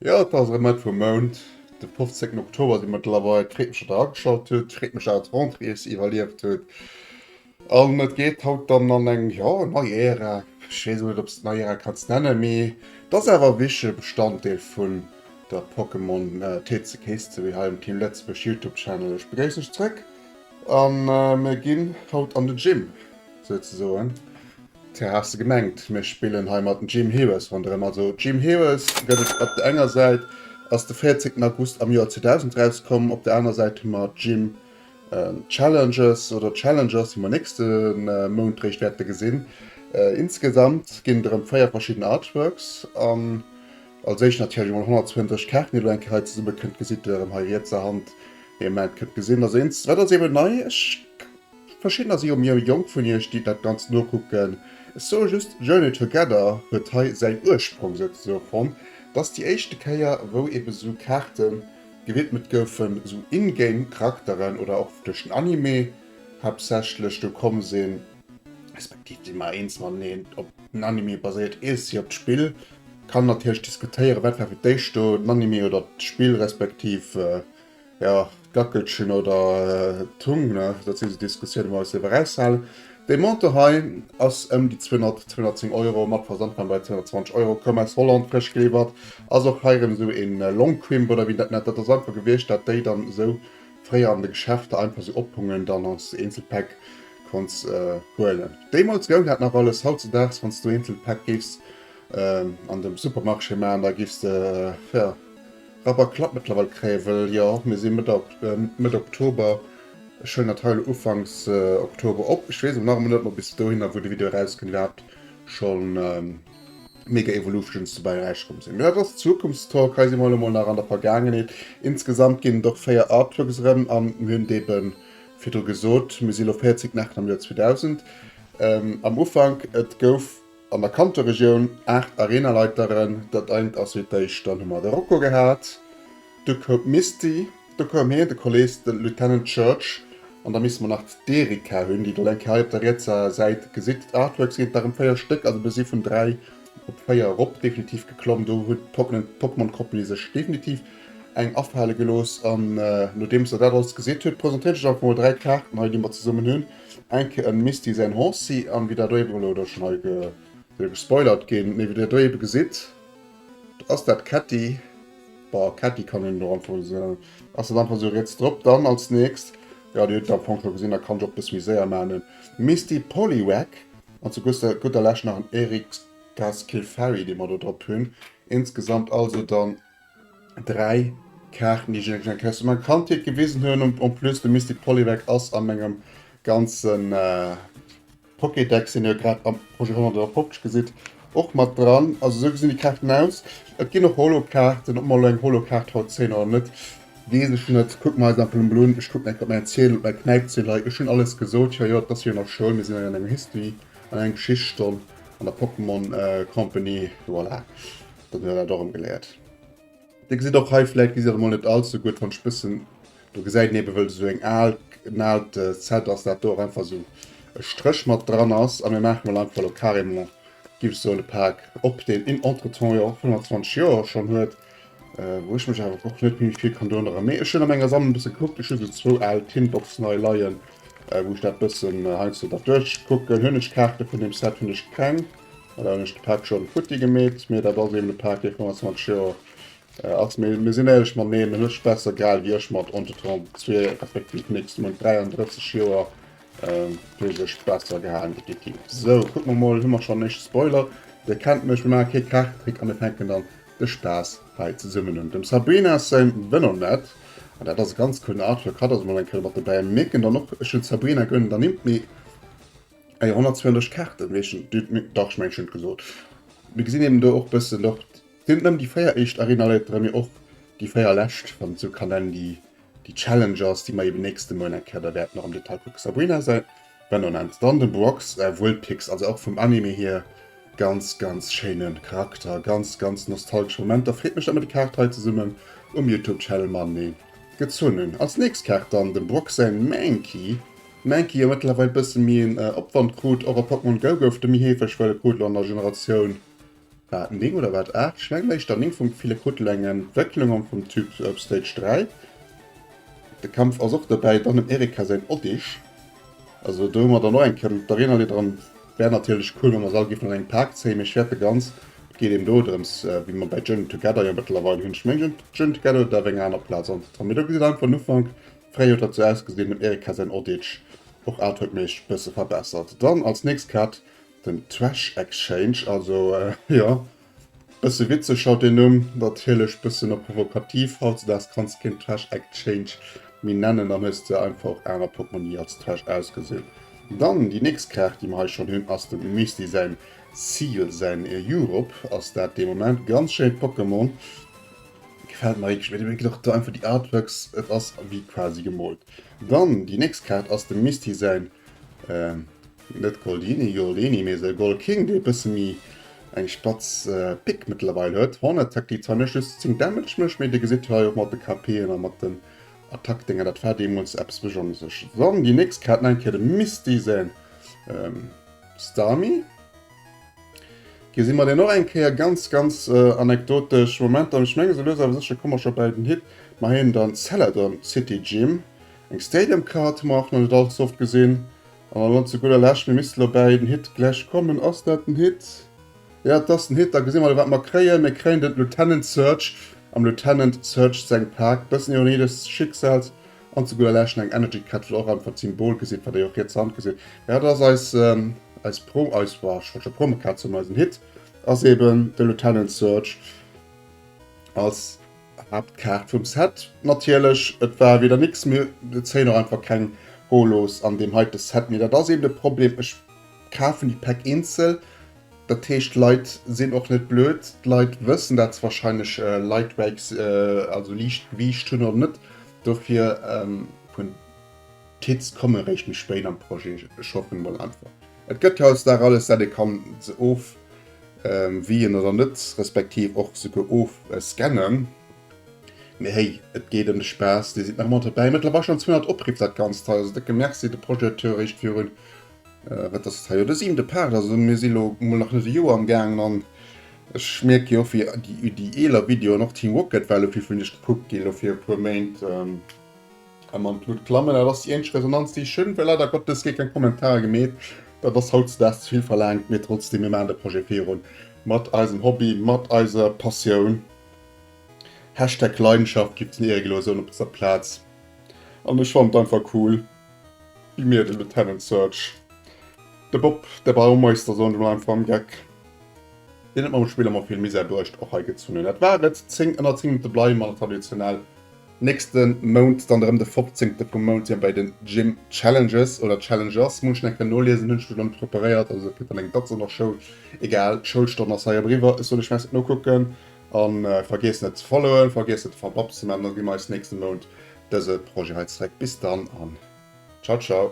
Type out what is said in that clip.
Jo et ass erëm Mëtt vum Mount, de 15 Oktober si mëttlerweil. Freet mech datt der ageschalt hutt, freet mech datt d'Rentrée iech iwwerlieft huet. An et geet haut dann an eng, jo, nei Ära, ech weess och net, ob s et nei Ära kanns nennen, mee et ass awer e wichtege Bestanddeel vun der Pokémon TCG History hei am Team Lëtzebuerg Youtube Channel. Ech begréiss lech zrëck a mir ginn haut an de Gym, souzesoen. Tja, has de gemengt, mir spillen hei mat den Gym Heroes ronderëm. Also Gym Heroes gëtt et op der enger Säit, ass de 14 August am Joer 2000 erauskomm, op der anerer Säit hu mer Gym Challenges oder Challengers, déi mer nächste Mount réischt wäerte gesinn. Insgesamt ginn et erëm véier verschidden Artworks an als éischt natierlech emol 120 Kaarten, déi elo eng Kéier hei zesumme kënnt. Gesitt Dir erëm hei riets a Hand, déi am Ament kënnt gesinn. Also eent, wat ass eeben nei? Ech, verschiddener si jo méi jonk vun Iech, déi dat Ganzt nokucken. Ech soe just, Journey Together huet hei säin Ursprong souzesoe fonnt. Dass déi éischte Kéier, wou eebe sou Kaarten. Gewidmet goufen esou in-game Charakteren oder och duerch den Anime haaptsächlech. Do komme se respektiv déi mar eens mateneen. Op den Anime baséiert eescht si op d'Spill. Kann natierlech diskutéieren wat war fir d'éischt do, den Anime oder d'Spill respektiv jo d'Gackelchen oder d'Hung. Dat si sou Diskussioune wou mer eis dierf eraushalen. Dee Montant hei ass ëm déi 200, 210 Euro, mat Versand war en bei 220 Euro, koum aus Holland, frësch geliwwert. Ass och hei erëm esou een Longquimp oder wéi en dat nennt. Dat ass einfach gewiescht, dat déi dann esou fréier an de Geschäfter einfach esou ophungen, dann als Eenzelpäck konnts huelen. Deemools goung dat nach alles, hautzedags wanns du Eenzelpäck géifs an de Supermarché maachen, da géifs de rapper klapp mëttlerweil kréien, wëll jo, mir si Mëtt Oktober, Ech huelen dat hei elo Ufanks Oktober op. Ech wees awer nach emol net ob bis dohinner wou de Video eraus kënnt iwwerhaapt schon Mega Evolutions dobäi erausgekomm sinn. Mee dat ass Zukunftstalk, hei si mer elo mol nach an der Vergaangenheet. Insgesamt ginn et och 4 Artworks erëm an mir hunn et eben virdru gesot, mir si elo 40 Nächten am Joer 2000. Am Ufank et gouf. An der Kanterregioun 8 Arenaleiteren, dat engt ass wéi d'éischt, dann hu mer de Rocco gehat, du koum d'Misty, do koum hien, de Kolees, de Lieutenant Church an da misste mer nach d'Erika hunn, déi Dir elo eng Kéier hei op der rietser Säit gesitt. D'Artworks sinn et nach ëm 4 Stéck, also mer si vun 3 op 4 erop definitiv geklomm. Do hunn d'Pokémon-Company sech definitiv eng afale gelooss an nodeems Der dat alles gesitt hutt, presentéiert ech Iech einfach mol 3 Kaarten hei, déi mer zesummen hunn. Enke en Misty säin Hancy an wéi dat oiwer elo dach schon hei soll gespoilert ginn, mee wéi dir et do ebe gesitt ass dat Ketti, ba Ketti kann een et och einfach esou nennen, ass dat einfach esou riets drop. Dann als nächst, jo dir hutt et am Fong scho gesinn, da kann ech och e bësse méi séier maachen, en Misty Poliwag an zu gudder Lescht nach en Eric Skilfari dee mer do drop hunn. Insgesamt also dann 3 Kaarten déi ech iech eng Kéier aus menger Kandheet gewisen hunn. Und en plus de Mystic Polywag ass a mengem ganzen äh, Pokédex, den ihr grad am Projet 150 gesitt, och mat dran. Also esou gesinn déi Kaarten aus. Et ginn och Holo-Kaarten, ob mer elo eng Holo-Kaart haut zéien oder net, weess ech net. Kucken mer eis einfach emol un. Ech kucken eng Kéier op mäin Ziedel, op mäi Knäipziedel hei. Ech hunn alles gesot, jo jo, et ass wéi an der Schoul, mir sinn hei an enger History, an enger Geschichtsstonn an der Pokémon Company, voilà. Dann hun der dat och erem geleiert. Dir gesitt och hei, vläit gesitt der et mol net allze gudd, wann ech bëssen do gesäit een eben wëll esou eng aal, en aalt Set ass dat do, och einfach esou e Stréch mat dran ass. A mir maache mol einfach lo carrément, giff ech soen, e Pak op, deen en entretemps jo och 25 Joer schon huet, wou ech mech awer och net méi vill kann dorun erëmee. Ech hun a menger Sammlung e bësse gekuckt, ech hu sou zwou aal Tinboxen hei leien, wou ech dat bëssen heiansdo da duerchkucken. Hun ech Kaarte vun dem Set? Hun ech keng. An dann hun ech de Paak schon futti gemeet, mee dat ass eben de Paak dee 25 Joer ass. Mee mir sin éierlech mateneen, en huet sech besser gehaal wéi ech mat Onto 32 effektiv nix, mat 33 Joer huet e sech besser gehaalen effektiv. Sou kucken mer mol, hu mer schon den éischte Spoiler, dir kennt mech, mir maachen kee Krachekrick a mir fänken dann de Spaass hei zesummen un. Dem Sabrina säin Venonnet, an dat ass e ganz coolen Artwork, hatt ass mol eng Kéier mat dobäi, mir mierken dann och, ech hun d'Sabrina gönnt et ernimmt, mee. Eier 120 Kaarten, wéi ech den, nee dach, ech mengen ech hunn et gesot. Mir gesinn eben do och bëssen och, et sinn net nëmmen déi 4 éischt Arena-Leiter, mee och déi 4 lescht, wann et sou kann nennen, déi, déi Challenge ass, déi mer eben nächste Moien eng Kéier da wäerten och am Detail kucken. Sabrina säi Venonat, dann de Brox säi Vulpix, also och vum Anime hier ganz, ganz schéine Charakter, ganz, ganz nostalgesch Momenter. Freet mech, datt mer déi Kaart hei zesummen um Youtube-Channel matenee gezunn hunn. Als nächst Kaart dann dem Brox säi Mankey. Mankey jo mëttlerweil bësse méi een Opwand krut. Och a Pokémon Go gouf de méi heefeg, well e Krooddel an der Generatioun, war et 9 oder war et 8, ech mengen éischter 9, vum ville Krooddel eng Entwécklung an vum Typ Stage 3. De Kampf ass och dobäi, dann dem Erika säin Oddish, also do hu mer dann och eng Kéier d'Arena Leader an wär natierlech cool wa mer se all géifen an engem Pak zéien, mee Schwäert begrenz. Et geet eben do drëms, wéi mer bei Journey Together jo mëttlerweil hunn, ech mengen Journey Together huet awer eng aner Plaz an der Tram, mee do gesitt einfach den Ufank Fréi huet dat sou ausgesinn, den Eric hat säin Odditsch och artworkméisseg bësse verbessert. Dann als nächst Kaart den Trash Exchange, also jo, bësse witzeg haut den Numm, natierlech bëssen och provokativ. Hautzedaags kanns de keen Trash Exchange méi nennen, dann hues de einfach och aner Portmonni als trash ausgesinn. Dann déi nächst Kaart déi mer hei schonn hunn ass dem Misty säin Seal, säin Europe ass dat dee Moment. Ganz schéint Pokémon. Gefällt mer richteg, mir gin och do einfach déi Artworks, et ass wéi quasi gemoolt. Dann déi nächst Kaart ass dem Misty säin net Goldini, Goldini, mee säi Gold King, dee e bësse méi eng spatz Pick mëttlerweil huet. Horn Attack, déi zwar net just 10 Damage mécht, mee dir gesitt hei och mat de KP'en a mat den Attack-Dénger, dat war deemools eppes Besonnesches. Dann déi nächst Kaart, nach eng Kéier dem Misty säin Starmie. Gee si mer deen och eng Kéier. Ganz ganz anekdotesch Momenter an ech menge sou lues awer sécher komme mer scho bäi den Hit. Mer héieren dann Celadon City Gym. Eng Stadium Card hu mer och nach net allze oft gesinn. An dann elo zu gudder Lescht, mir misste elo bäi den Hit gläich kommen. Ass dat den Hit? Jo, et ass den Hit. Da gesi mer elo wat mer kréien. Mir kréien de Lieutenant Surge am Lieutenant Surge seng Pak. Bëssen Ironie des Schicksals. An zu gudder Lescht eng Energy Cat, wou der och einfach d'Symbol gesitt, wat ee och riets Hand gesitt. Jo, dat ass eis, eis Pro, eis, jo, ech wollt scho Promo-Card soen, mee eisen Hit ass eben de Lieutenant Surge als Haaptkaart vum Set. Natierlech, et war wieder nix, mee et zéien och einfach keng Holos an deem heite Set, mee dat ass eben de Problem, ech kafen déi Päck eenzel, Dat heescht, d'Leit sinn och net blöd, d'Leit wëssen dat se wahrscheinlech Lightbikes, also Liichtgewiicht, hunn oder net. Dofir hunn d'Kids kommen eréischt méi spéit an d'Projet. Ech hoffen emol einfach, et gëtt hautdesdaags alles dat ee kann se ofwien oder net, respektiv och souguer ofscannen. Mee héi, et geet ëm de Spaass, dir sidd nach ëmmer dobäi. Mëttlerweil schonn 200 Opriff, dat Ganzt hei. Also décke Merci de Projecteur eréischt virun Wat ass et hei? Jo, de siwente Part. Also mir si lo mol nach net e Joer am gaangen an ech mierke jo och wéi déi déi eeler Videoen, och Team Rocket war lo vill vun iech gekuckt ginn, lo fir e puer Méint. A mam Knut Klamme, dat ass déi eenzeg Resonanz déi ech hunn, well leider Gottes gi keng Kommentarer gemeet. Dat ass hautzedags ze vill verlaangt, mee trotzdem, mir maachen de Projet virun, mat eisem Hobby, mat eiser Passioun. Hashtag Leidenschaft gibt den Ehreglosen op dëser Plaz an ech fannen et einfach cool, Gi mir den Lieutenant Surge. De Bob, de Baumeister, soen ech mol einfach am Geck, deen huet mam Spill emmer vill Misär bruecht, och hei gezunn hunn. Dat war et, 10 ënner 10 Minutte bleiwe mer traditionell. Nächste Mount dann erëm de fopzéngte vum Mount si mer bei den Gym Challenges, oder Challengers, muss ech nach kënnen noliesen, hunn ech mech nach net preparéiert, also kritt dann eng Datz an der Schoul, egal, d'Schoulstonn ass hei eriwwer, ech soen iech merci, nokucken, a vergiesst net ze followen, vergiesst net de Fababs ze man, da gi mer eis nächste Mount dëse Projet hei zréck. Bis dann an ciao ciao.